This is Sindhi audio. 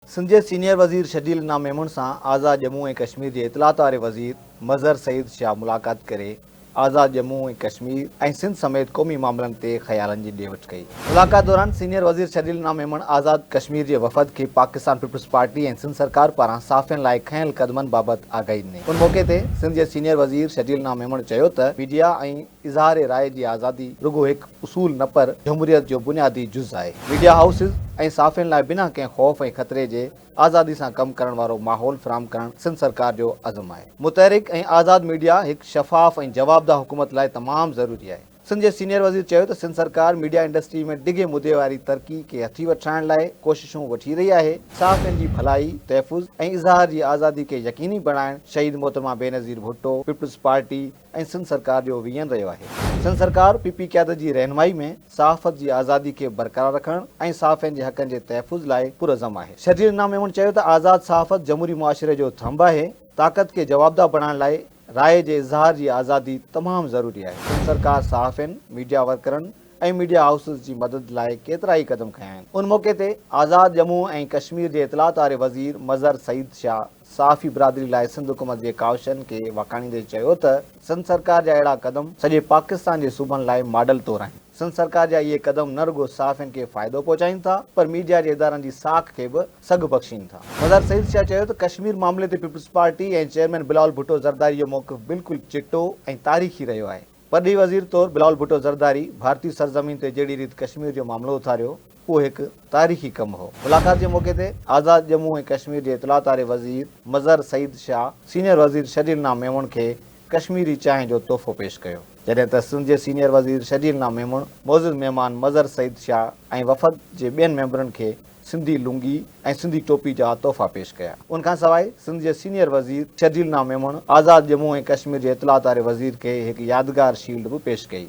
سنڌ جي سينيئر وزير شرجيل نام ميمڻ سان آزاد ڄمون ۽ ڪشمير جي اطلاعات واري وزير مظهر سعيد شاهه ملاقات ڪري آزاد ڄمون ۽ ڪشمير ۽ سنڌ سميت قومي معاملن تي خيالن جي ڏي وٺ ڪئي. ملاقات دوران سينيئر وزير شرجيل نام ميمڻ آزاد ڪشمير جي وفد کي پاڪستان پيپلز پارٽي ۽ سنڌ سرڪار پاران صحافين لاء کنيل قدمن بابت آگاهي ڏني. ان موقعي تي سنڌ جي سينيئر وزير شرجيل نام ميمڻ چيو ته ميڊيا ۽ اظهار راء جي آزادي رڳو هڪ اصول نه پر جمهوريت جو بنيادي جز آهي. ميڊيا هائوسز ۽ صحافين لاء بنا ڪنهن خوف ۽ خطري جي آزادي سان ڪم ڪرڻ وارو ماحول فراهم ڪرڻ سنڌ سرڪار جو عزم آهي. متحرڪ ۽ آزاد ميڊيا هڪ شفاف ۽ جوابده حڪومت لاء تمام ضروري آهي. سنڌ جي سينيئر وزير چيو ته سنڌ سرڪار ميڊيا انڊسٽري ۾ ڊگهي مدي واري ترقي کي هٿي وٺرائڻ لاء ڪوششون وٺي رهي آهي، صحافين جي ڀلائي، تحفظ ۽ اظهار جي آزادي کي يقيني بڻائڻ شهيد محترمه بينظير ڀٽو، پيپلز پارٽي، ۽ سنڌ سرڪار جو ويين رهيو آهي. سنڌ سرڪار پي پي قيادت جي رهنمائي ۾ صحافت جي آزادي کي برقرار رکڻ ۽ صحافين جي حقن جي تحفظ لاء پرعزم آهي. شرجيل انعام ميمڻ چيو ته آزاد صحافت جمهوري معاشري جو ٿنڀ آهي، طاقت کي جوابده بڻائڻ لاء راء جي اظهار جي آزادي تمام ضروري آهي، سنڌ سرڪار صحافين، ميڊيا ورڪرن ۽ ميڊيا هائوسز جي مدد لاء ڪيترائي قدم کنيا آهن. ان موقعي تي آزاد ڄمون ۽ ڪشمير جي اطلاعات واري وزير مظهر سعيد شاهه، صحافي برادري لاء سنڌ حڪومت جي ڪاوشن کي واکاڻيندي چيو ته سنڌ سرڪار جا اهڙا قدم سڄي پاڪستان جي صوبن لاء ماڊل طور آهن، سنڌ سرڪار جا اهي قدم نه رڳو صحافين کي فائدو پهچائين ٿا پر ميڊيا جي ادارن جي ساک کي به سگهه بخشين ٿا. مزار سعيد شاهه چيو ته ڪشمير معاملي تي پيپلزپارٽي ۽ چيئرمين بلاول ڀٽو زرداري جو موقف بلڪل چٽو ۽ تاريخي رهيو آهي، پرڏيهي وزير طور بلاول ڀٽو زرداري ڀارتي سرزمين تي جهڙي ريت ڪشمير جو معاملو اٿاريو، اهو هڪ تاريخي ڪم هو. ملاقات جي موقعي تي آزاد ڄمون ۽ ڪشمير جي اطلاعات واري وزير مظهر سعيد شاهه سينيئر وزير شرجيل نام ميمڻ کي ڪشميري چانهه جو تحفو پيش ڪيو، جڏهن ته سنڌ جي سينيئر وزير شرجيل نام ميمڻ معزز مهمان مظهر سعيد شاهه ۽ وفد جي ٻين ميمبرن کي سنڌي لنگي ۽ سنڌي ٽوپي جا تحفا پيش ڪيا. ان کان سواء سنڌ جي سينيئر وزير شرجيل نام ميمڻ آزاد ڄمون ۽ ڪشمير جي اطلاعات واري وزير کي هڪ يادگار شيلڊ به پيش ڪئي.